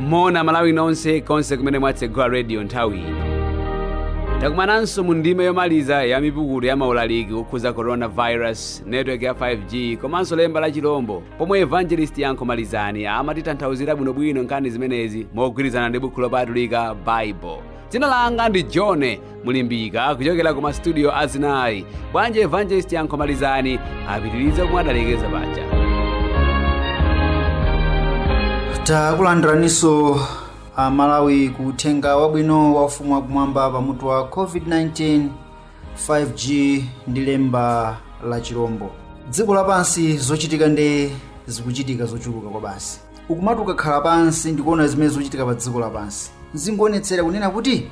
moni malawi nonse konse kumene mwatsegula radio nthawi ino takumananso mu ndime yomaliza ya mipukutu ya maulaliki okhuza coronavirus network ya 5g komanso lemba la chilombo pomwe evangelist yankho malizani amatitanthauzira bwinobwino nkhani zimenezi mogwirizana ndi buku lopatulika bible dzina langa ndi john mulimbika kuchokera ku masitudiyo azinayi bwanji evangelist yankho malizani apitirize komwe adalekeza paja takulandiraniso amalawi ku uthenga wabwino wa ufumu wakumwamba pa mutu wa covid-19 5g ndi lemba la chirombo dziko lapansi zochitika nde zikuchitika zochuluka kwa basi ukumati ukakhala pansi ndikuona zimene zochitika pa dziko lapansi zikuonetsera kunena kuti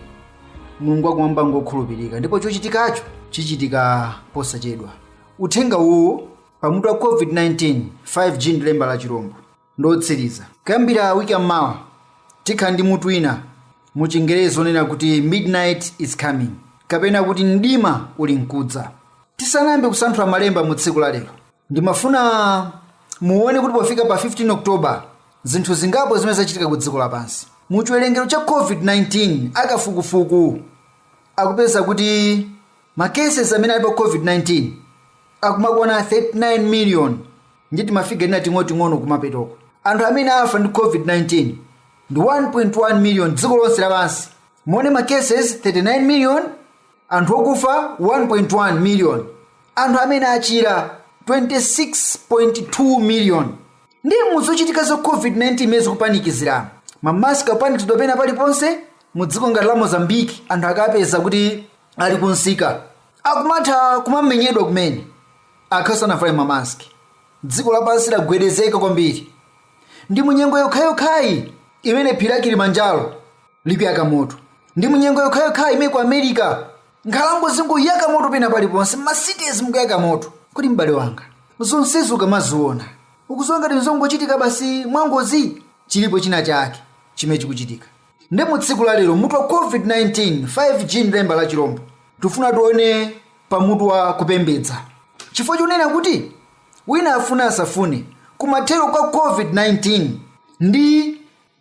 mulungu wakumwamba ngokhulupirika ndipo chochitikacho chichitika posachedwa uthenga uwu pamutu wa covid-19 5g ndi lemba la chirombo ndotsiriza kuyambira wiki yammawa tikhala ndi mutu wina mu chingerezi onena kuti midnight is coming kapena kuti mdima uli mkudza tisanayambe kusanthula malemba mu tsiku la lero ndimafuna muone kuti pofika pa 15 october zinthu zingapo zimene zachitika ku dziko lapansi mu chiwerengero cha covid-19 akafukufuku akupeza kuti makeses amene ali pa covid-19 akumakwana 39 million ndi timafiga tina ting'oting'ono kumapetoko anthu amene afa ndi covid-19 ndi 1.1 million dziko lonse lapansi muone makeses 39 million anthu okufa 1.1 million anthu amene achira 26.2 million ndi muzochitika za covid-19 imene zikupanikizirana mamaski akupanikizidwa pena paliponse mu dziko ngati la mozambiki anthu akapeza kuti ali kunsika akumatha kumamenyedwa kumene aka sanavale mamaski dziko lapansi lagwedezeka kwambiri ndi munyengo yokhayokhayi imene phiri la kilimanjaro likuyaka moto ndi munyengo yokhayokhayi imene ku america nkhalango zingoyaka moto pena paliponse mmasitezi mukuyaka moto kodi m'bale wanga zonsezi ukamaziona ukuziona ngati zongochitika basi mwangozi chilipo china chake chimene chikuchitika ndi mu tsiku la lero mutu wa covid-19 5g ndi lemba la chilombo tifuna tione pa mutu wa kupembedza chifukwa chonena kuti wina afuna asafune kumathero kwa covid-19 ndi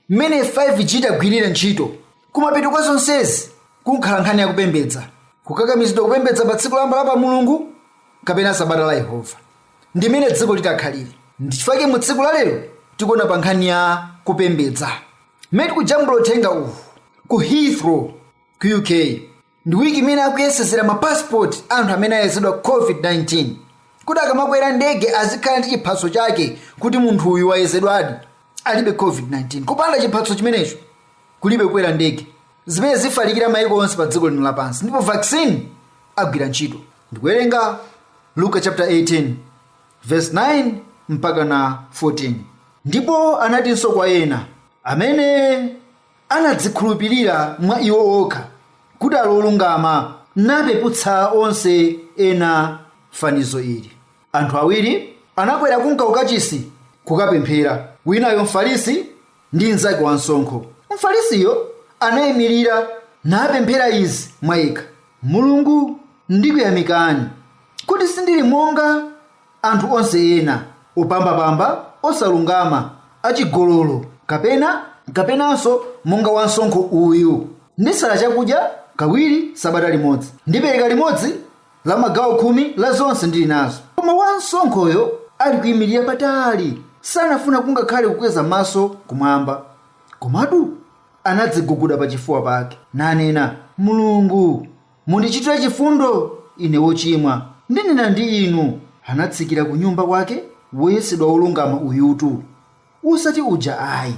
Mmene 5G itagwirire ntchito. Kumapeto kwa zonsezi kukhala nkhani ya kupembedza, kukakamizidwa kupembedza pa tsiku loyamba la pa mulungu kapena sabata la Yehova. Ndi mmene dziko litakhalire. Ndi chifukwa chake mu tsiku la lero tikuona pa nkhani ya kupembedza. Mmene tikujambula uthenga uwu ku Heathrow ku UK. ndi wiki imene akuyesezera ma passport a anthu amene ayezedwa covid-19 kuti akamakwera ndege azikhala ndi chiphatso chake kuti munthu uyu wayezedwadi alibe covid-19 kupanda chiphatso chimenecho kulibe kukwera ndege zimene zifalikira maiko onse pa dziko lino lapansi ndipo vaccine agwira ntchito ndikuwerenga luka chapter 18 verse 9 mpaka na 14 ndipo anatinso kwa ena amene Anadzikhulupirira mwa iwo okha kuti ali olungama, napeputsa onse ena fanizo ili. Anthu awiri anakwera kunka ukachisi kukapemphera, winayo Mfarisi, ndi mnzake wamsonkho. Mfarisiyo anaimirira napemphera izi mwa yekha, Mulungu, ndikuyamikani, kuti sindili monga. Anthu onse ena opambapamba, osalungama, achigololo, kapenanso monga wamsonkho uyu. Ndisala chakudya kawiri sabata limodzi. Ndipereka limodzi la magawo khumi la zonse ndili nazo. Koma wamsonkhoyo alikuimirira patali, sanafuna kungakhale kukweza maso kumwamba, komatu anadziguguda pachifuwa pake, nanena, Mulungu, Mundichitire chifundo ine wochimwa. Ndinena ndi Inu, Anatsikira kunyumba kwake woyesedwa wolungama uyutu, wosati uja ayi,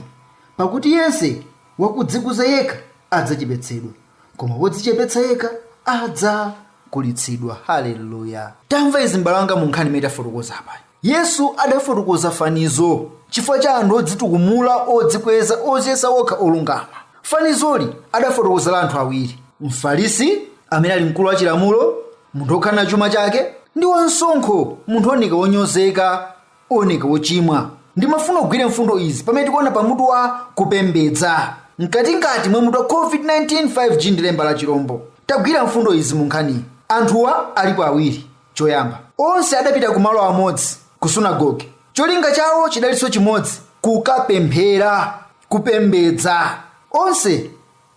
pakuti yense wakudzikuza yekha adzachepetsedwa, koma wodzichepetsa yekha adzakulitsidwa. Hallelluya! Tamva izi m'bale wanga mu nkhani imene tafotokoza apa. Yesu adafotokoza fanizo chifukwa cha anthu odzitukumula, odzikweza, odziyesa okha olungama. Fanizoli adafotokoza la anthu awiri, Mfarisi, amene ali mkulu wa chilamulo, munthu wokhala na chuma chake, ndi wamsonkho, munthu wooneka wonyozeka, ooneka wochimwa. Ndimafuna ugwire mfundo izi pamene tikuona pa mutu wa kupembedza. Mkatikati mwa mutu wa COVID-19 5G ndi lemba la chilombo, tagwira mfundo izi mu nkhaniyi. Anthuwa alipo awiri. choyamba. Onse adapita ku malo amodzi, ku sunagoge. Cholinga chawo chidalinso chimodzi, kukapemphera, kupembedza. Onse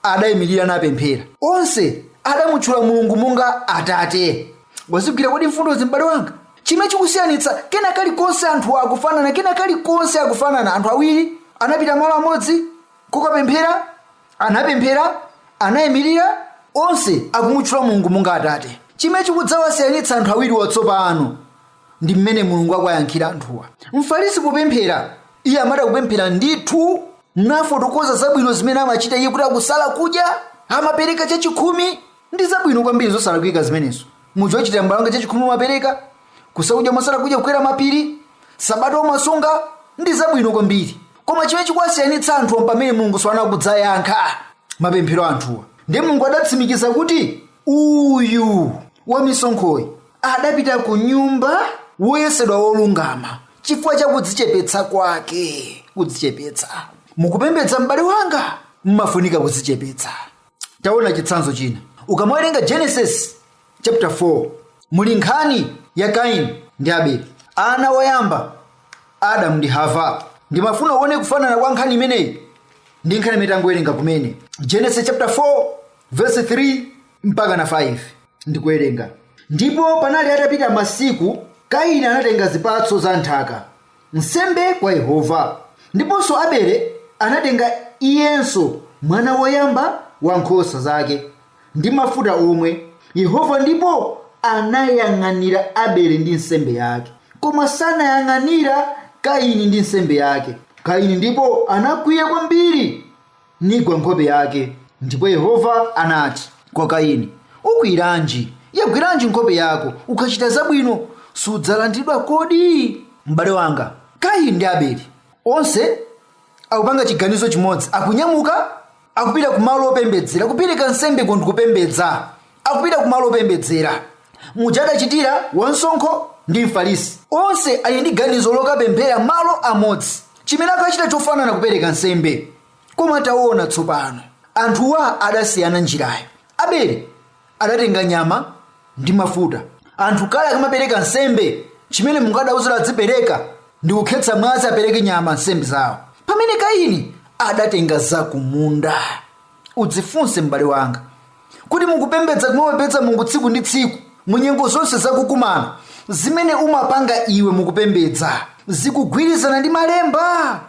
adayimilira napemphera. Onse adamutchula Mulungu monga Atate. Wazigwira kodi mfundozi, m'bale wanga? Chimene chikusiyanitsa, kena kalikonse anthuwa akufanana, kena kalikonse akufanana. Anthu awiri anapita malo amodzi kukapemphera. Anapemphera, anaimirira, onse akumutchula Mulungu monga Atate. Chimene chikudzawasiyanitsa anthu awiriwa tsopano ndi mmene Mulungu akuwayankhira anthuwa. Mfarisi popemphera, iye amatha kupemphera ndithu nafotokoza zabwino zimene amachita iye kuti akusala kudya, amapereka chachikhumi, Ndi zabwino kwambiri zosalakwika zimenezo. Muja uchitira mbale wanga chachikhumi umapereka, Kusala kudya umasala kudya kukwera mapiri, Sabata umasunga, Ndi zabwino kwambiri. Koma chimene chikuwasiyanitsa anthuwa mpamene Mulungu tsopano akudzayankha mapemphero a anthuwa. Ndiye Mulungu adatsimikiza kuti uyu wamisonkhoyi adapita kunyumba woyesedwa wolungama chifukwa cha kudzichepetsa kwake. Kudzichepetsa. Mukupembedza mbale wanga, mumafunika kudzichepetsa. taona chitsanzo china ukamawerenga genesis chapter 4 muli nkhani ya kaini ndi abeli ana woyamba adamu ndi hava ndimafuna uone kufanana kwa nkhani imeneyi ndi nkhani imene tangowerenga kumene genesis chapter 4 verse 3 mpaka na 5 ndikuwerenga ndipo panali atapita masiku kaini anatenga zipatso za nthaka nsembe kwa Yehova. Ndiponso Abele anatenga iyenso mwana woyamba wa nkhosa zake ndi mafuta omwe, Yehova ndipo anayang'anira Abele ndi nsembe yake, koma sanayang'anira Kaini ndi nsembe yake. Kaini ndipo anakwiya kwambiri. nigwa nkhope yake. Ndipo Yehova anati kwa Kaini, Ukwiyiranji? Yagwiranji nkhope yako? Ukachita zabwino, sudzalandidwa kodi? M'bale wanga, Kaini ndi Abeli, onse akupanga chiganizo chimodzi, akunyamuka, akupita ku malo opembedzera, kupereka nsembe uko ndikupembedza. Akupita kumalo opembedzera, muja adachitira wamsonkho ndi Mfarisi. Onse ali ndi ganizo lokapemphera malo amodzi, chimene akachita chofanana kupereka nsembe. Koma taona tsopano, anthuwa adasiyana njirayo. Abele adatenga nyama ndi mafuta. Anthu kale akamapereka nsembe, chimene Mulungu adawauza adzipereka ndi kukhetsa mwazi apereke nyama nsembe zawo. Pamene Kaini adatenga zakumunda. Udzifunse m'bale wanga, Kuti mukupembedza kumapembedza Mulungu tsiku ndi tsiku mu nyengo zonse zakukumana zimene umapanga iwe mukupembedza zikugwirizana ndi malemba?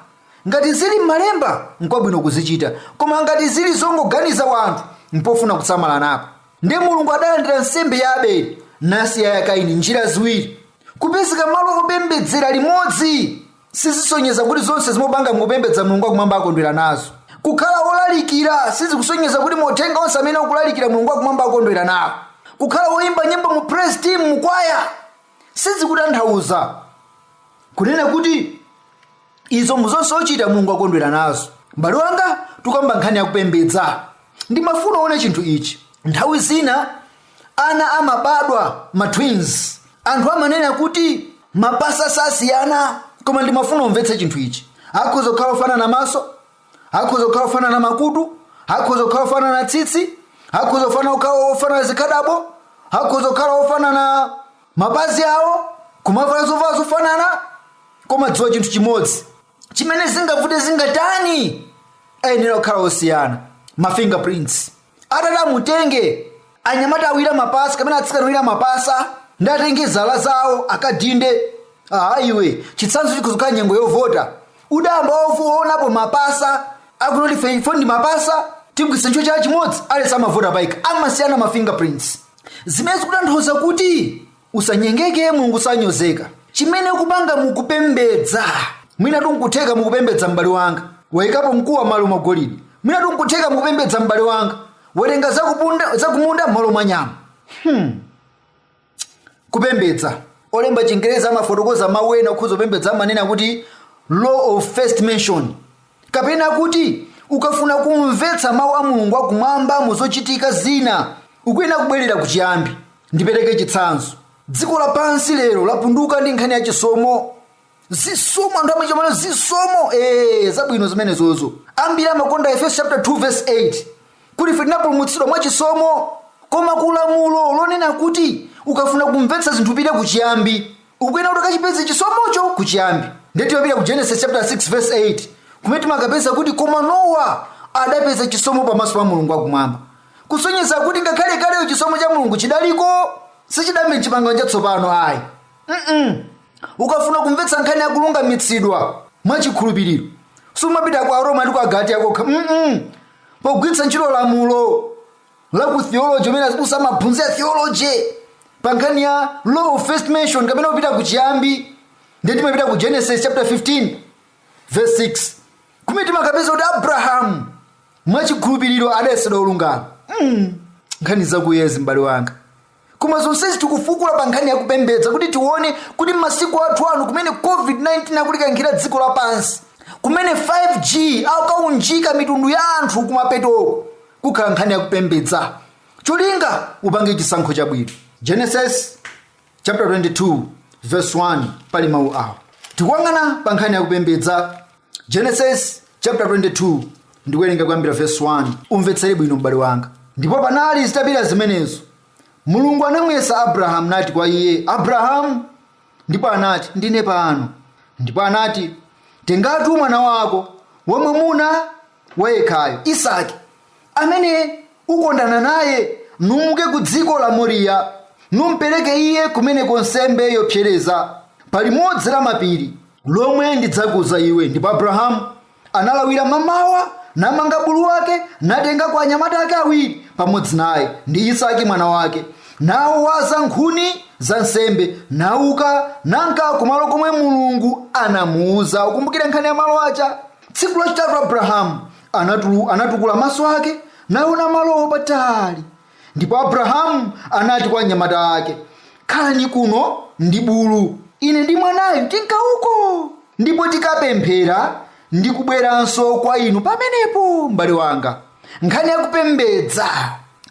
Ngati zili m'malemba nkwabwino kuzichita, koma ngati zili zongoganiza wanthu mpofuna kusamala napo. Ndi Mulungu adalandira nsembe ya Abeli nasiya ya Kaini njira ziwiri, kupezeka malo opembedzera limodzi sizisonyeza kuti zonse zimumapanga mukupembedza mulungu akumwamba akondwera nazo kukhala wolalikira sizikusonyeza kuti mauthenga onse amene ukulalikira mulungu akumwamba akondwera nawo kukhala woyimba nyimbo mu praise team mu kwaya sizikutanthauza kunena kuti izo zonse uchita mulungu akondwera nazo mbale wanga tukamba nkhani yakupembedza ndimafuna uone chinthu ichi nthawi zina ana amabadwa ma twins anthu amanena kuti mapasa sasiyana koma ndimafuna umvetse chinthu ichi akhoza kukhala ofanana maso akhoza kukhala ofanana makutu akhoza kukhala ofanana tsitsi akhoza kufana kukhala ofanana zikhadabo akhoza kukhala ofanana mapazi awo kumavala zovala zofanana koma dziwa chinthu chimodzi chimene zingavute zingatani ayenera kukhala osiyana ma fingerprints atati amutenge anyamata awiri mapasa kapena atsikana awiri mapasa ndi atenge zala zawo akadinde aha iwe chitsanzo chikhoza kukhala nyengo yovota udayamba waonapo mapasa akunena kuti ifeyo ndi mapasa tigwiritsa ntchito chala chimodzi aliyense amavota payekha amasiyana ma fingerprints zimene zikutanthauza kuti usanyengeke mulungu sanyozeka chimene ukupanga mukupembedza mwinatu nkutheka mukupembedza m'bale wanga wayikapo mkuwa malo mwa golidi mwinatu nkutheka mukupembedza m'bale wanga watenga zakumunda malo mwa nyama kupembedza olemba chingerezi amafotokoza mawu ena okhuza kupembedza amanena kuti law of first mention kapena kuti ukafuna kumvetsa mawu a mulungu akumwamba mu zochitika zina ukuyenera kubwerera ku chiyambi ndipereke chitsanzo dziko lapansi lero lapunduka ndi nkhani ya chisomo zisomo anthu amachita mano zisomo ee zabwino zimenezozo ambiri amakonda efeso chapter 2 verse 8 kuti ife tinapulumutsidwa mwa chisomo koma kulamulo lonena kuti ukafuna kumvetsa zinthu upite ku chiyambi ukuyenera kuti ukachipeze chisomocho kuchiyambi ndiye timapita ku genesis chapter 6 verse 8 kumene timakapeza kuti koma nowa adapeza chisomo pamaso pa mulungu wakumwamba kusonyeza kuti ngakhale kaleyo chisomo cha mulungu chidaliko sichidayambe mchipangano chatsopano ayi Mm-mm. ukafuna kumvetsa nkhani yakulungamitsidwa mwachikhulupiriro sumapita kwa aroma ndi kwa agalatiya kokha Mm-mm. pogwiritsa ntchito lamulo la ku theology kumene azibusa amaphunzira theology pa nkhani ya law of first mention kapena kupita ku chiyambi ndiye timapita ku genesis chapter 15 verse 6 kumene timakapeza kuti abrahamu mwachikhulupiriro adayesedwa olungama mm. nkhani za kuyazi m'bale wanga koma zonsezi tikufukula pa nkhani ya kupembedza kuti tione kuti m'masiku athu ano kumene covid-19 akulikankhira dziko lapansi kumene 5g akaunjika mitundu ya anthu kumapetoko kukhala nkhani ya kupembedza cholinga upange chisankho chabwino genesis chapter 22 verse 1 pali mawu awa tikuyang'ana pa nkhani ya kupembedza genesis chapter 22 ndikuwerenga kuyambira verse 1 umvetsere bwino m'bale wanga ndipo panali zitapita zimenezo mulungu anamuyesa abrahamu nati kwa iye abrahamu ndipo anati ndine pano ndipo anati tengatu mwana wako wamwamuna wayekhayo isaki amene ukondana naye numuke ku dziko la moriya numpereke iye kumeneko nsembe yopsereza pa limodzi la mapiri lomwe ndidzakuuza iwe ndipo abrahamu analawira mamawa namanga bulu wake natengako anyamata ake awiri pamodzi naye ndi isaki mwana wake nawaza nkhuni za nsembe nauka nanka kumalo komwe mulungu anamuuza ukumbukire nkhani ya malo aja tsiku lachitatu abrahamu anatukula maso ake naona malowo patali ndipo abrahamu anati kwa anyamata ake khalani kuno ndi bulu ine ndi mwanayu tinka uko ndipo tikapemphera ndi kubweranso kwa inu pamenepo m'bale wanga nkhani yakupembedza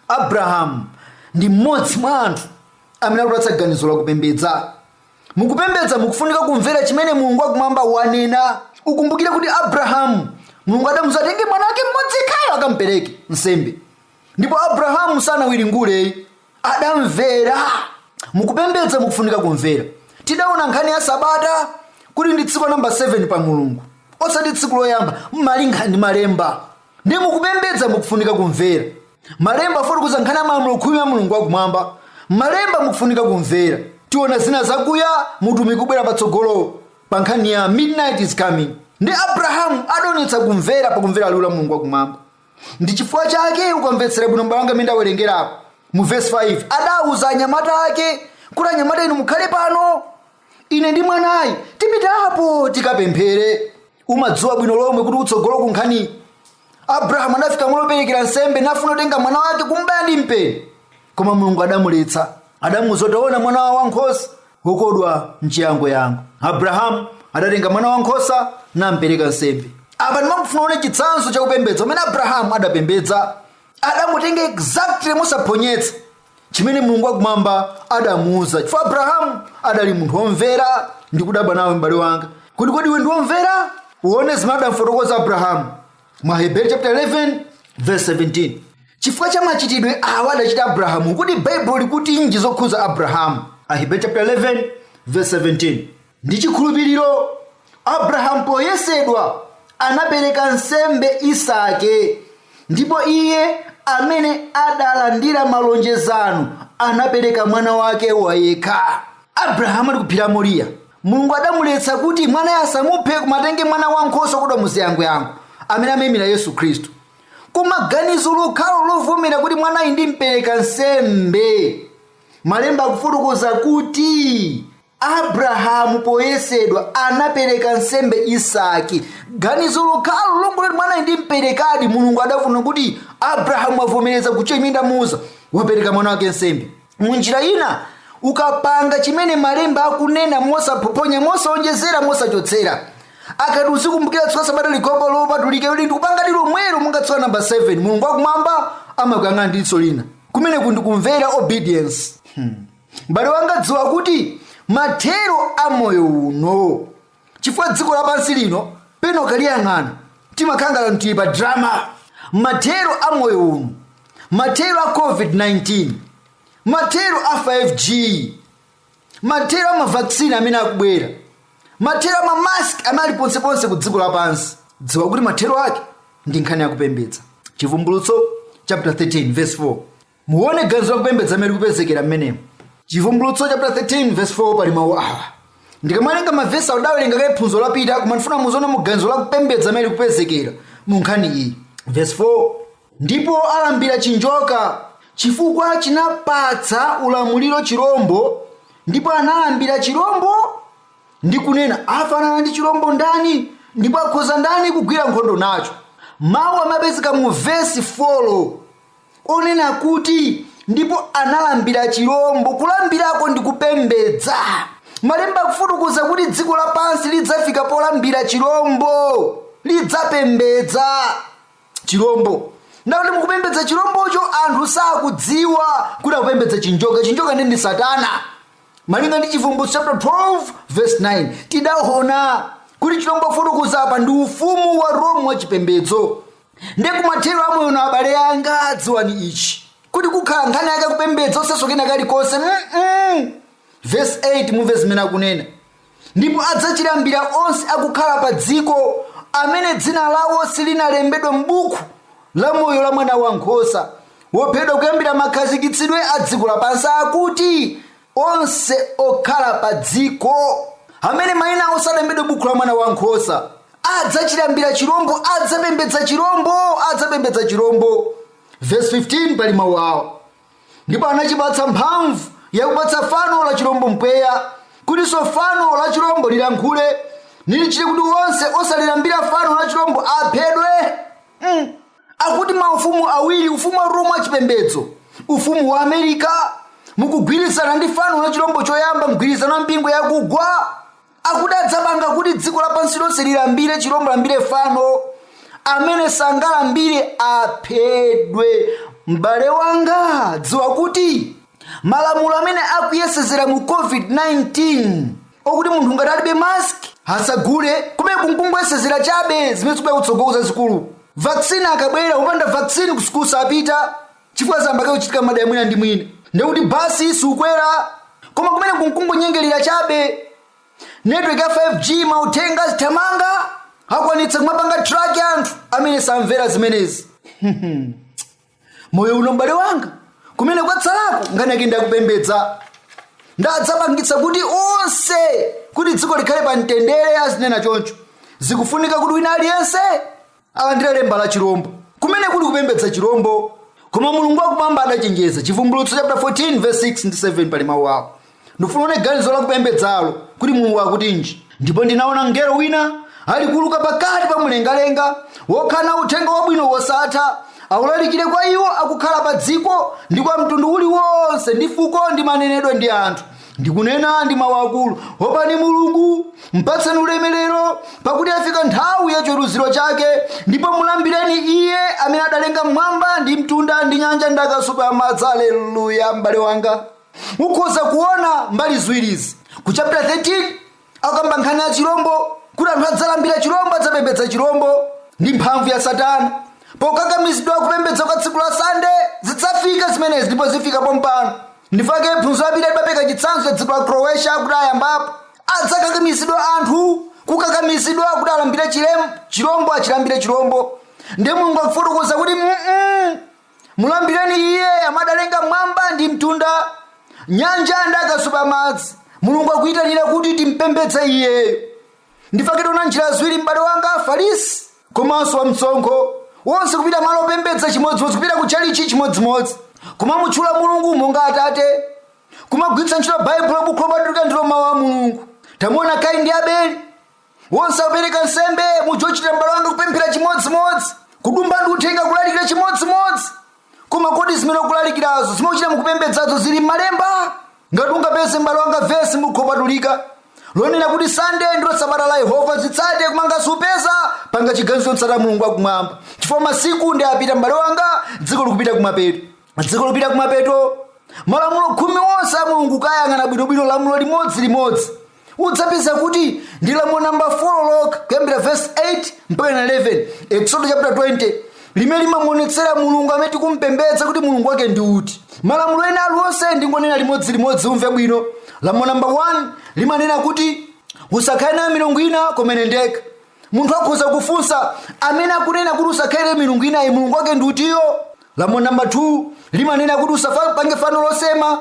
abrahamu ndi mmodzi mwa anthu amene akutipatsa ganizo lakupembedza mukupembedza mukufunika kumvera chimene mulungu wakumwamba wanena ukumbukire kuti abrahamu mulungu adamuuza atenge mwana wake mmodzi yekhayo akampereke nsembe ndipo abrahamu sanawiringule ayi adamvera mukupembedza mukufunika kumvera tidaona nkhani ya sabata kuti ndi tsiku namba 7 pa mulungu osati tsiku loyamba malinga ndi malemba ndi mukupembedza mukufunika kumvera malemba afotokoza nkhani ya malamulo khumi ya mulungu wakumwamba malemba mukufunika kumvera tiona zina zakuya muutumiki ukubwera patsogolo pa nkhani ya midnight is coming ndi abrahamu adaonetsa kumvera pakumvera liwu la mulungu wakumwamba Ndi chifukwa chake ukamvetsera bwino m'bale wanga mmene ndawerengerapo mu vesi 5 adauza anyamata ake kuti anyamata inu mukhale pano ine ndi mwanayu tipita apo tikapemphere umadziwa bwino lomwe kuti kutsogolo ku nkhaniyi abrahamu anafika malo operekera nsembe nafuna kutenga mwana wake kumbaya ndi mpeni koma mulungu adamuletsa adamuuza kuti ona mwana wa nkhosa wokodwa m'chiyangoyango abrahamu adatenga mwana wankhosa nampereka nsembe apa ndimafuna uone chitsanzo cha kupembedza kumene abrahamu adapembedza adangotenga exactly mosaphonyetsa chimene mulungu wakumwamba adamuuza chifukwa abrahamu adali munthu womvera ndikudabwa nawe m'bale wanga kuti kodi iwe ndi womvera uone zimene adamfotokoza abrahamu mu aheberi chapter 11 verse 17 chifukwa cha machitidwe awa adachita abrahamu kuti baibulo likutinji zokhudza abrahamu aheberi chapter 11 verse 17 ndi chikhulupiriro abrahamu poyesedwa anapereka nsembe isake ndipo iye amene adalandira malonjezano anapereka mwana wake wayekha abrahamu ali kuphiri la moriya mulungu adamuletsa kuti mwanayo asamuphe koma atenge mwana wankhosa wokodwa muziyangoyango amene amayimira yesu khristu koma ganizo lokhalo lovomera kuti mwanayi ndimpereka nsembe malemba akufotokoza kuti abrahamu poyesedwa anapereka nsembe isaki ganizo lokhalo longoti mwanayi ndimperekadi mulungu adaona kuti abrahamu wavomereza kuchita chimene ndamuuza wapereka mwana wake nsembe mu njira ina ukapanga chimene malemba akunena mosaphophonya mosaonjezera mosachotsera akati uzikumbukira tsiku la sabata likhale lopatulika ndikupanga lilomwelo monga tsiku la namba 7 mulungu wakumwamba amakuyang'ana ndi diso lina kumene kundikumvera obedience hmm. mbale wanga dziwa kuti mathero a moyo uno chifukwa dziko lapansi lino pena ukaliyang'ana timakhala ngati anthu tili pa drama mathero a moyo uno mathero a covid-19 mathero a 5g mathero a mavaksini amene akubwera mathero a mamask amene ali ponseponse ku dziko lapansi dziwa kuti mathero ake ndi nkhani yakupembedza chivumbulutso chapter 13 verse 4 Muone ganizo la kupembedza limene likupezekera mmenemo. Chivumbulutso chaputala 13 vesi 4 pali mawu awa. Ndikamawerenga mavesi awa tidawerenga kale phunziro lapita koma ndifuna muzione mu ganizo la kupembedza limene likupezekera mu nkhani iyi. Vesi 4 ndipo alambira chinjoka chifukwa chinapatsa ulamuliro chirombo ndipo analambira chirombo ndi kunena afanana ndi chirombo ndani ndipo akhoza ndani kugwira nkhondo nacho mawu amene apezeka mu vesi 4 onena kuti, Ndipo analambira chirombo. Kulambirako ndi kupembedza. Malemba akufotokoza kuti dziko lapansi lidzafika polambira chirombo, lidzapembedza chirombo. Ndakuti mukupembedza chirombocho anthu sakudziwa kuti akupembedza chinjoka. Chinjoka nde ndi Satana. Malinga ndi Chivumbulutso chapter 12 verse 9 tidaona kuti chirombo akufotokoza apa ndi ufumu wa Rome wa chipembedzo. nde kumathero a moyo uno abale anga dziwani ichi kuti kukhala nkhani yakupembedza osatiso kena kalikonse mm-mm. vesi 8 mumve zimene akunena ndipo adzachilambira onse akukhala pa dziko amene dzina lawo silinalembedwe m'buku la moyo la mwana wankhosa wophedwa kuyambira makhazikitsidwe a dziko lapansi akuti Onse okhala padziko amene mayina awo sanalembedwe m'buku la Mwana wa Nkhosa adzachilambira chirombo, adzapembedza chirombo, adzapembedza chirombo. Vesi 15 pali mawu awa. Ndipo anachipatsa mphamvu yakupatsa fano la chirombo mpweya, kutinso fano la chirombo lilankhule, nilichite kuti onse osalilambira fano la chirombo aphedwe. Mm. akuti maufumu awiri ufumu wa roma wachipembedzo ufumu wa america mukugwirizana ndi fano la chilombo choyamba mgwirizano wa mpingo yakugwa akuti adzapanga kuti dziko lapansi lonse lilambire chilombo lilambire fano amene sangalambire aphedwe m'bale wanga dziwa kuti malamulo amene akuyesezera mu covid-19 okuti munthu ngati alibe mask asagule kumene n'kungoyesezera chabe zimene zikubwera kutsogolo zazikulu vaccine akabwera upanda vaccine ku sukulu sapita chifukwa zambake kuchitika madaya mwina ndi mwina ndekuti basi siukwera koma kumene n'kungonyengerera chabe network ya 5g mauthenga azithamanga akwanitsa kumapanga track anthu amene samvera zimenezi moyo uno m'bale wanga kumene kwatsalako nkhani yake nja kupembedza ndadzapangitsa kuti onse kuti dziko likhale pa mtendere azinena choncho zikufunika kuti wina aliyense alandire lemba la chirombo kumene kuli kupembedza chirombo koma mulungu wakumwamba adachenjeza chivumbulutso chapter 14 verse 6 ndi 7 pali mawu awo ndifuna uone ganizo la kupembedzalo kuti mulungu akutinji ndipo ndinaona mngelo wina alikuuluka pakati pa mlengalenga wokhala na uthenga wabwino wosatha awulalikire kwa iwo akukhala pa dziko ndi kwa mtundu uliwonse ndi fuko ndi manenedwe ndi anthu ndikunena ndi mawu akulu opani mulungu mpatseni ulemerero pakuti yafika nthawi ya chiweruziro chake ndipo mulambireni iye amene adalenga mwamba ndi mtunda ndi nyanja ndi akasupe amadzi aleluya m'bale wanga ukhoza kuona mbali ziwiri izi ku chapter 13 akamba nkhani ya chilombo kuti anthu adzalambira chilombo adzapembedza chilombo ndi mphamvu ya satana pokakamizidwa kupembedza kwa tsiku la sande zidzafika zimenezi ndipo zifika pompano nchifukwa chake phunziro lapita ndinapereka chitsanzo cha dziko la croatia kuti ayambapo adzakakamizidwa anthu kukakamizidwa kuti alambire chilem- chilombo achilambire chilombo ndiye mulungu akufotokoza kuti "Mm-mm, mulambireni iye amene adalenga mwamba ndi mtunda nyanja ndi akasupe amadzi mulungu akuyitanira kuti timpembedze iyeyo nchifukwa chake tiona njira ziwiri m'bale wanga afarisi komanso wamsonkho wonse kupita malo opembedza chimodzimodzi kupita ku tchalitchi chimodzimodzi kumamutchula mulungu monga atate kumagwiritsa ntchito baibulo bukhu lopatulika ndilo mawu a mulungu tamuona kaini ndi abeli wonse akupereka nsembe muzochita m'bale wanga kupemphera chimodzimodzi kudumpha ndi uthenga kulalikira chimodzimodzi koma kodi zimene ukulalikirazo zimene uchita mukupembedzazo zili m'malemba ngati ungapeze m'bale wanga vesi m'buku lopatulika lonena kuti sande ndilo sabata la yehova zitsate koma ngati supeza panga chiganizo m'tsate mulungu wakumwamba chifukwa masiku ndi opita m'bale wanga dziko likupita kumapeto dziko lopita kumapeto malamulo khumi onse a mulungu kayang'ana bwinobwino lamulo limodzi limodzi udzapeza kuti ndi lamulo namba 4 lokha kuyambira vesi 8 mpaka 11 eksodo chapter 20 limene limamuonetsera mulungu amene tikumpembedza kuti mulungu wake ndi uti malamulo ena aliwonse ndingonena limodzi limodzi umve bwino lamulo namba 1 limanena kuti usakhale nayo milungu ina koma ine ndekha munthu akhoza kufunsa amene akunena kuti usakhale milungu inayi mulungu wake ndi utiyo lamulo namba 2 limanena kuti usapange fano losema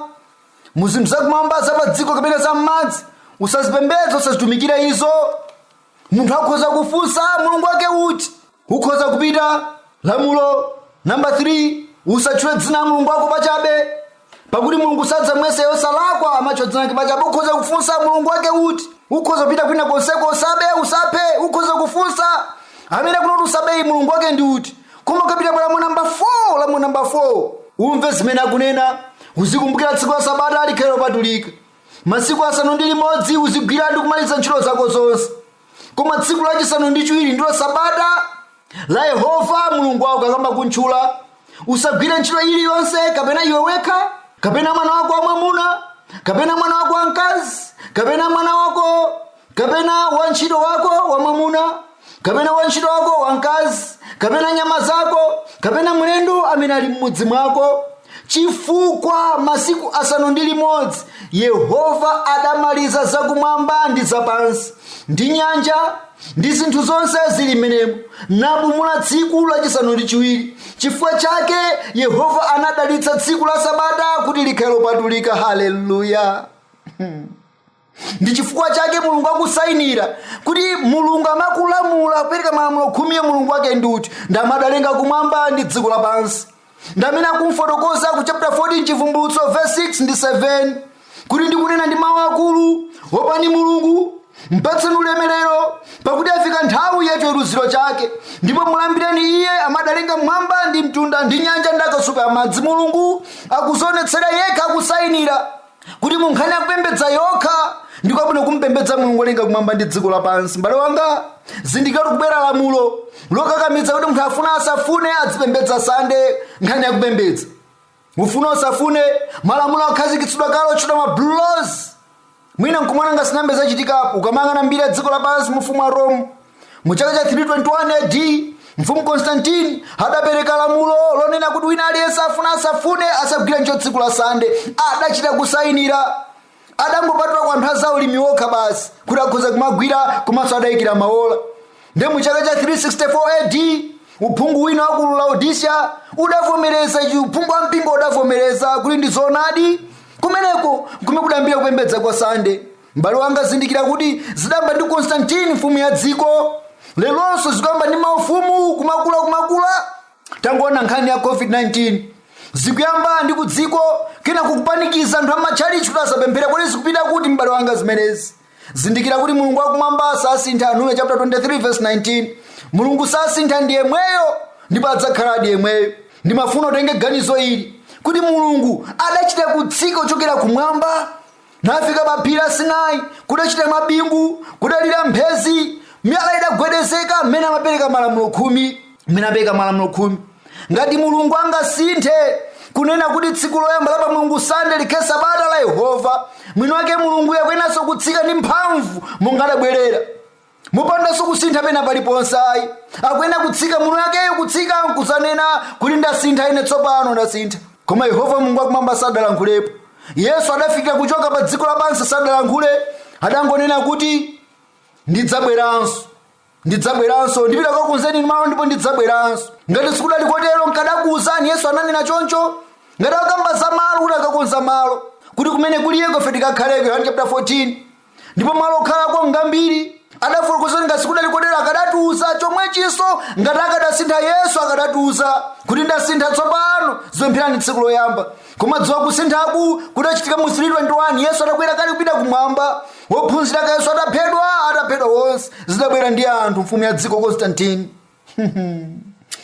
mu zinthu zakumwamba za pa dziko kapena za m'madzi usazipembedze usazitumikire izo munthu akhoza kufunsa mulungu wake uti ukhoza kupita Lamulo namba 3, Usatchule dzina la Mulungu wako pachabe, pakuti Mulungu sadzamuyesa wosalakwa amene atchula dzina lake pachabe. Ukhoza kufunsa Mulungu wake uti? Ukhoza kupita kwina konseko, usabe, usaphe, ukhoza kufunsa amene akunena kuti usabeyu Mulungu wake ndi uti? Koma ukapita pa lamulo namba 4, lamulo namba 4, umve zimene akunena, uzikumbukira tsiku la Sabata likhale lopatulika. Masiku asanu ndi limodzi uzigwira ndi kumaliza ntchito zako zonse. koma tsiku lachisanu ndi chiwiri ndilo sabata la yehova mulungu wako akamba kumutchula usagwire ntchito iliyonse kapena iwe wekha kapena mwana wako wamwamuna kapena mwana wako wamkazi kapena mwana wako kapena wantchito wako wamwamuna kapena wantchito wako wamkazi kapena nyama zako kapena mlendo amene ali m'mudzi mwako chifukwa masiku asanu ndi limodzi yehova adamaliza zakumwamba ndi zapansi ndi nyanja ndi zinthu zonse zili mmenemo napumula tsiku lachisanu ndi chiwiri chifukwa chake yehova anadalitsa tsiku la sabata kuti likhale lopatulika haleluya ndi chifukwa chake mulungu akusainira kuti mulungu amene akulamula kupereka malamulo khumiyo mulungu wake ndi uti ndi amene adalenga kumwamba ndi dziko lapansi ndi amene akumfotokoza ku chapter 14 chivumbulutso verse 6 ndi 7 kuti ndi kunena ndi mawu akulu opani mulungu mpatseni ulemerero pakuti yafika nthawi ya chiweruziro chake ndipo mulambireni iye amene adalenga m'mwamba ndi mtunda ndi nyanja ndi akasupe amadzi mulungu akudzionetsera yekha akusainira kuti mu nkhani yakupembedza yokha ndi kwabwino kumpembedza mulungu wolenga kumwamba ndi dziko lapansi mbale wanga zindikira kukubwera lamulo lokakamiza kuti munthu afuna asafune adzipembedza sande nkhani yakupembedza ufuna usafune malamulo akhazikitsidwa kale otchedwa ma blue laws mwina nkumaona ngati sizinayambe zachitikapo ukamayang'ana mbiri ya dziko lapansi mfumu wa rome mu chaka cha 321 ad mfumu konstantine adapereka lamulo lonena kuti wina aliyense afuna asafune asagwira ntchito tsiku la sande adachita kusayinira adangopatula kwa anthu a za ulimi wokha basi kuti akhoza kumagwira komanso adayikira maola nde mu chaka cha 364 ad uphungu wina wa ku laodicea udavomereza ichi uphungu wa mpingo udavomereza kuti ndi zoonadi kumeneko kumene kudayambira kupembedza kwa sande M'bale wanga zindikira kuti zidayamba ndi Constantine mfumu ya dziko. Leronso zikuyamba ndi maufumu kumakula kumakula. Tangoona nkhani ya COVID-19. Zikuyamba ndi ku dziko kena kukupanikiza anthu amatchalitchi kuti asapemphere kodi zikupita kuti m'bale wanga zimenezi. Zindikira kuti Mulungu wakumwamba sasintha Numeri chapter 23 verse 19. Mulungu sasintha ndi yemweyo ndipo adzakhaladi yemweyo. Ndimafuna utenge ganizo ili kuti Mulungu adachita kutsika kuchokera kumwamba nafika pa phiri la sinai kudachita mabingu kudalira mphezi miyala idagwedezeka mmene amapereka malamulo khumi mmene amapereka malamulo khumi ngati mulungu angasinthe kunena kuti tsiku loyamba la pa mulungu sande likhale sabata la yehova mwini wake mulungu akuyeneranso kutsika ndi mphamvu monga adabwerera mopandanso kusintha pena paliponse ayi akuyenera kutsika mwini wakeyo kutsika nkuzanena kuti ndasintha ine tsopano ndasintha koma yehova mulungu wakumwamba sadalankhulepo yesu adafikira kuchoka pa dziko lapansi sadalankhule adangonena kuti ndidzabweranso ndidzabweranso ndipita kukakonzeni malo ndipo ndidzabweranso ngati sikudali kotero nkadakuwuzani yesu ananena choncho ngati akamba za malo kuti akakonza malo kuti kumene kuliyeko ife tikakhaleko yohane chapter 14 ndipo malo okhalako ngambiri adafotokoza ngati sikudali kotero akadatiuza chomwechinso ngati akadasintha yesu akadatiuza kuti ndasintha tsopano zipempherani tsiku loyamba koma dziwa kusinthaku kudachitika mu 321 yesu atakwera kale kupita kumwamba ophunzira ake a yesu ataphedwa ataphedwa onse zidabwera ndi anthu mfumu ya dziko konstantini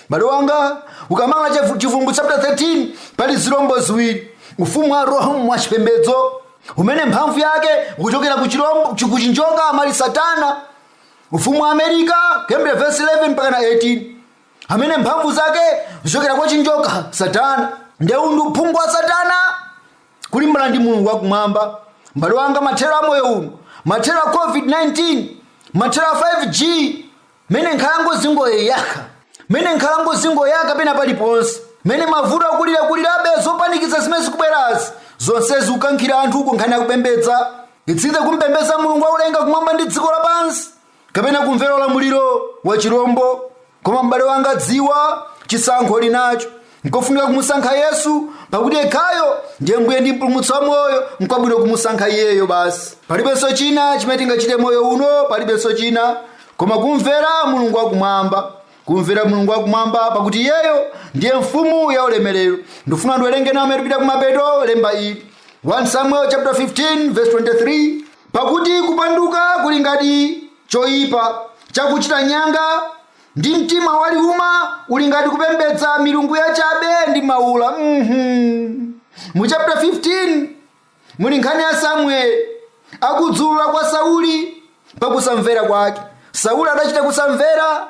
Mbale wanga ukawerenga chivu- chivumbulutso chapter 13 pali zilombo ziwiri ufumu wa rome wa chipembedzo umene mphamvu yake ukuchokera ku chilombo chi- ku chinjoka amene ali satana ufumu wa america kuyambira verse 11 mpaka na 18 amene mphamvu zake zikuchokera kwa chinjoka satana ndiye uwu ndi uphungu wa satana kulimbana ndi mulungu wakumwamba mbale wanga mathero a moyo uno mathero a covid-19 mathero a 5g mmene nkhalango zingoyaka mmene nkhalango zingoyaka pena paliponse mmene mavuto akulirakulirabe zopanikiza zimene zikubwerazi zonsezi zikukankhira anthu ku nkhani yakupembedza idzidze kumpembedza mulungu wakulenga kumwamba ndi dziko lapansi kapena kumvera ulamuliro wa chirombo koma m'bale wanga dziwa chisankho uli nacho nkofunika kumusankha yesu pakuti yekhayo ndiye mbuye ndi mpulumutsi wa moyo nkwabwino kumusankha iyeyo basi palibenso china chimene tingachite moyo uno palibenso china koma kumvera mulungu wakumwamba kumvera mulungu wakumwamba pakuti iyeyo ndiye mfumu ya ulemerero ndifuna ndiwerenge nawo mmene tipita kumapeto lemba ili 1 samuel chapter 15 verse 23 pakuti kupanduka kuli ngati choyipa chakuchita nyanga Ndi mtima waliuma uli ngati kupembedza milungu yachabe ndi maula. Mhm. Mu chapter 15 muli nkhani ya Samueli akudzulula kwa Sauli pakusamvera kwake. Sauli adachita kusamvera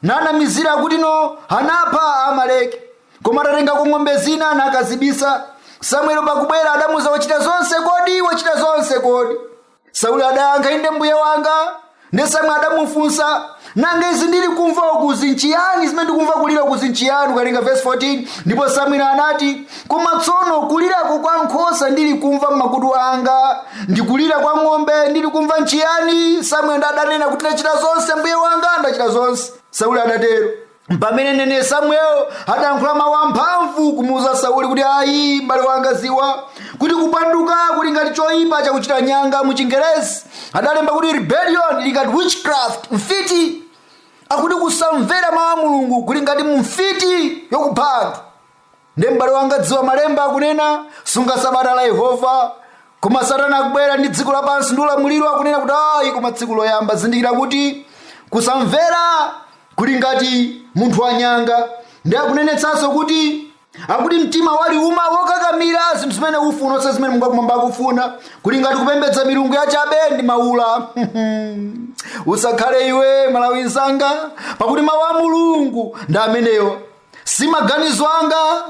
nanamizira kuti no anapha Amaleki koma atatengako ng'ombe zina nakazibisa. Samueli pakubwera adamuza wachita zonse kodi wachita zonse kodi sauli adayankha inde mbuye wanga ndi samueli adamufunsa nanga izi ndili kumva ukuzi nchiyani zimene ndikumva kulira ukuzi nchiyani ukawerenga verse 14 ndipo samueli anati koma tsono kulirako kwa nkhosa ndili kumva m'makutu anga ndi kulira kwa ng'ombe ndili kumva nchiyani samueli adanena kuti ndachita zonse mbuye wanga ndachita zonse sauli adatero pamene mneneri samuel adayankhula mawu amphamvu kumuuza sauli kuti ayi m'bale wanga ziwa kuti kupanduka kuli ngati choyipa chakuchita nyanga mu chingerezi adalemba kuti rebellion ili ngati witchcraft mfiti akuti kusamvera mawu a mulungu kuli ngati mfiti yokupha anthu nde m'bale wanga dziwa malemba akunena sunga sabata la yehova koma satana akubwera ndi dziko lapansi ndi ulamuliro akunena kuti ayi koma tsiku loyamba zindikira kuti kusamvera kuli ngati munthu wanyanga ndi akunenetsanso kuti akuti mtima waliuma wokakamira zinthu zimene ufuna osati zimene mulungu wakumwamba akufuna kuli ngati kupembedza milungu yachabe ndi maula usakhale iwe malawi mzanga pakuti mawu a mulungu ndi amenewa si maganizo anga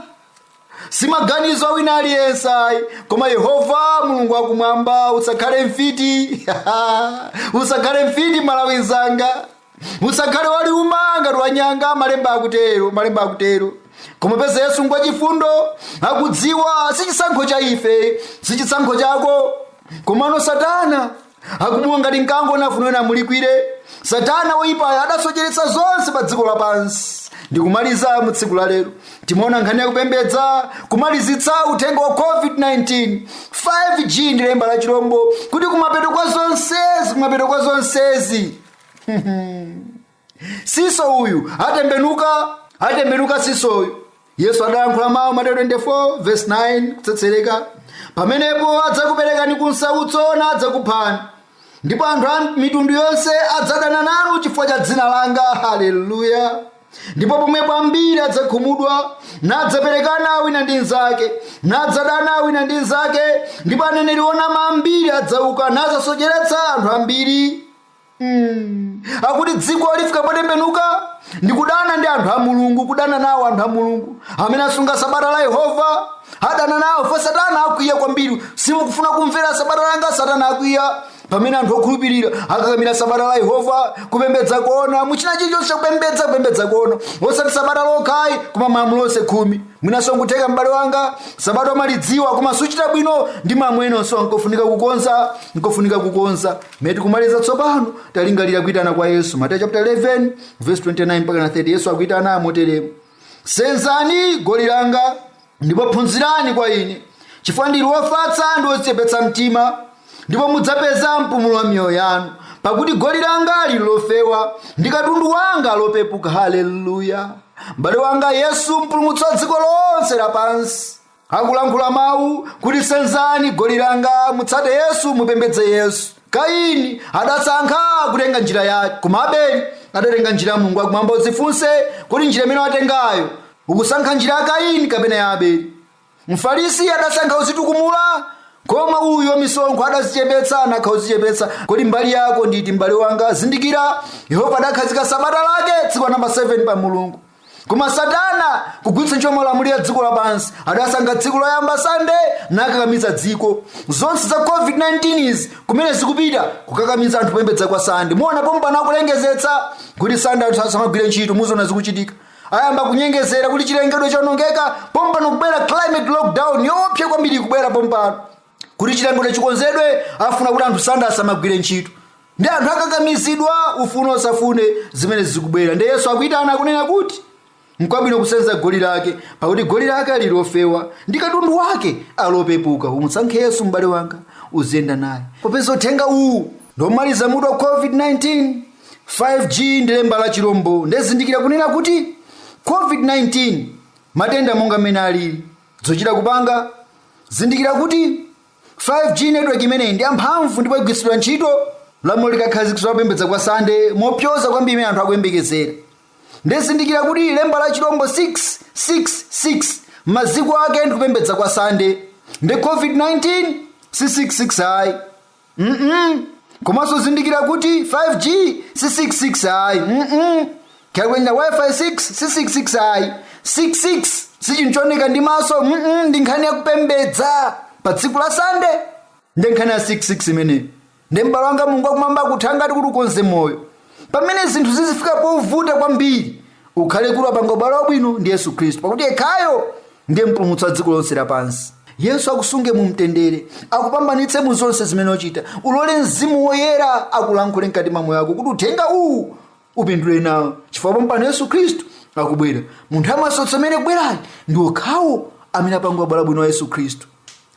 si maganizo a wina aliyense ayi koma yehova mulungu wakumwamba usakhale mfiti usakhale mfiti malawi nzanga usakhale waliuma ngati wanyanga malemba akutero malemba akutero koma peza yesu ngwa chifundo akudziwa si chisankho cha ife si chisankho chako komano satana akubuma ngati mkango nafuna wina amulikwire satana woyipayo adasocheretsa zonse pa dziko lapansi ndikumaliza mu tsiku la lero timaona nkhani yakupembedza kumalizitsa uthenga wa covid-19 5g ndi lemba la chilombo kuti kumapeto kwa zonsezi kumapeto kwa zonsezi siso uyu atembenuka siso uyu yesu adayankhula mawu mateyu 24 verse 9 kutsetsereka pamenepo adzakuperekani ku nsautso nadzakuphani ndipo anthu a mitundu yonse adzadana nanu chifukwa cha dzina langa haleluya ndipo pomwepo ambiri adzakhumudwa nadzaperekana wina ndi mnzake nadzadana wina ndi mnzake ndipo aneneri onama ambiri adzauka nadzasocheretsa anthu ambiri Hmm. akuti dziko lifika potembenuka ndi kudana ndi anthu a mulungu kudana nawo anthu a mulungu amene asunga sabata la yehova adana nawo poti satana akwiya kwambiri simukufuna kumvera sabata langa satana akwiya pamene anthu okhulupirira akakamira sabata la yehova kupembedza koona mu china chilichonse kupembedza koona osati sabata lokhayi koma malamulo onse khumi mwinanso nkutheka m'bale wanga sabata umalidziwa koma suchita bwino ndi ma enanso nkofunika kukonza nkofunika kukonza Mmene tikumaliza tsopano talingalira kuitana kwa Yesu. Mateyu chapter 11 verse 29 mpaka 30 Yesu akuitana moteremu. Senzani goli langa ndipo phunzirani kwa ine chifukwa ndili wofatsa ndi wodzichepetsa mtima ndipo mudzapeza mpumulo wa miyoyo yanu pakuti goli langa lili lofewa ndi katundu wanga ali wopepuka haleluya m'bale wanga yesu mpulumutsi wa dziko lonse lapansi akulankhula mawu kuti senzani goli langa mutsate yesu mupembedze yesu kaini adasankha kutenga njira yake koma abeli adatenga njira ya mulungu wakumwamba udzifunse kuti njira imene watengayo ukusankha njira ya kaini kapena ya abeli mfarisi adasankha kuzitukumula koma uyo wamisonkho adazichepetsa anasankha kuzichepetsa kodi mbali yako nditi mbale wanga zindikira yehova adakhazika sabata lake tsiku namba 7 pa mulungu koma satana kugwiritsa ntchito malamulo a dziko lapansi adasankha tsiku loyamba sande nakakamiza dziko zonse za covid-19 izi kumene zikupita kukakamiza anthu kupembedza kwa sande muona pompano akulengezetsa kuti sande anthu asamagwire ntchito muziona zikuchitika ayamba kunyengezera kuti chilengedwe chaonongeka pompano kubwera climate lockdown yoopsa kwambiri kubwera pompano kuti chilengedwe chikonzedwe afuna kuti anthu sande asamagwire ntchito ndiye anthu akakamizidwa ufune usafune zimene zikubwera nde yesu akuyitana kunena kuti nkwabwino kusenza goli lake pakuti goli lake ali lofewa ndi katundu wake ali wopepuka umusankhe yesu m'bale wanga uziyenda naye popeza uthenga uwu ndomaliza mutu wa covid-19 5g ndi lemba la chilombo nde zindikira kunena kuti covid-19 matenda monga mmene alili Zochita kupanga, Zindikira kuti 5G network imeneyi ndi yamphamvu ndipo igwiritsidwa ntchito lamulo likakhazikitsidwa kupembedza kwa Sande mopyoza kwambiri mmene anthu akuyembekezera. Nde zindikira kuti lemba la chilombo 666 maziko ake ndi kupembedza kwa Sande. Nde COVID-19 si 66 ayi. mm komanso zindikira kuti 5g si 666 ayi mm kaya kunena wifi 6 si 666 ayi 666 si chinthu chooneka ndi maso mm ndi nkhani yakupembedza pa tsiku la sande ndi nkhani ya 666 imeneyi ndiye m'bale wanga mulungu akumwamba akuthangate kuti ukonze moyo pamene zinthu zizifika povuta kwambiri ukhale kuti wapanga ubale wabwino ndi yesu khristu pakuti yekhayo ndiye mpulumutsi wa dziko lonse lapansi yesu akusunge mu mtendere akupambanitse mu zonse zimene uchita ulole mzimu woyera akulankhule mkati mwa moyo wako kuti uthenga uwu upindule nawo chifukwa pompano yesu khristu akubwera mu nthawi ya masautso imene ikubwerayi ndi okhawo amene apanga ubale wabwino wa yesu khristu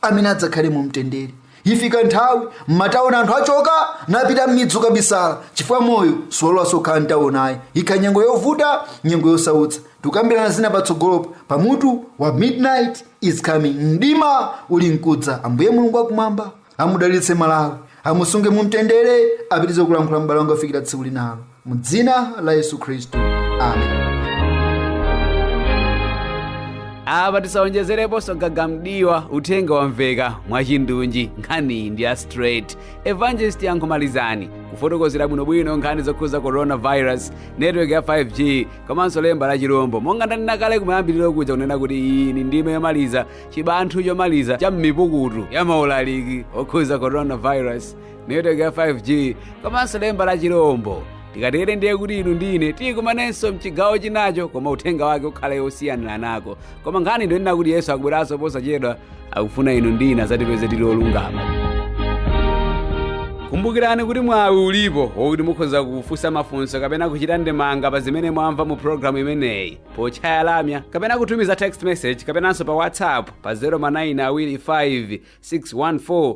amene adzakhale mu mtendere ifika nthawi m'matauni anthu achoka napita m'midzi kukabisala chifukwa moyo siwalolanso kukhala mtauni ayi ikhala nyengo yovuta nyengo yosautsa tikambirana zina patsogolopa pamutu wa midnight is coming mdima uli mkudza ambuye mulungu akumwamba amudalitse malawi amusunge mu mtendere apitize kulankhula m'bale wanga kufikira tsiku linalo mu dzina la yesu khristu amen apa tisaonjezereponso gaga m'diwa uthenga wamveka mwachindunji nkhani ndi ya straight evangelist yankho malizani kufotokozera bwinobwino nkhani zokhuza coronavirus network ya 5g komanso lemba la chirombo monga ndanena kale kumayambiriro kuja kunena kuti iyi ni ndime yomaliza chibanthu chomaliza cha mmipukutu ya maulaliki okhuza coronavirus netiweki ya 5g komanso lemba la chilombo tikatere ndiye kuti inu ndine tikumanenso mchigawo chinacho koma uthenga wake ukhale osiyaniranako koma nkhani ndiyonena kuti yesu akubweranso posachedwa akufuna inu ndine azatipeze tili olungama kumbukirani kuti mwawi ulipo wokuti mukhoza kufunsa mafunso kapena kuchita ndemanga pa zimene mwamva mu programu imeneyi potchaya lamya kapena kutumiza text message kapenanso pa whatsapp pa 0 ma 9 awiri 5 614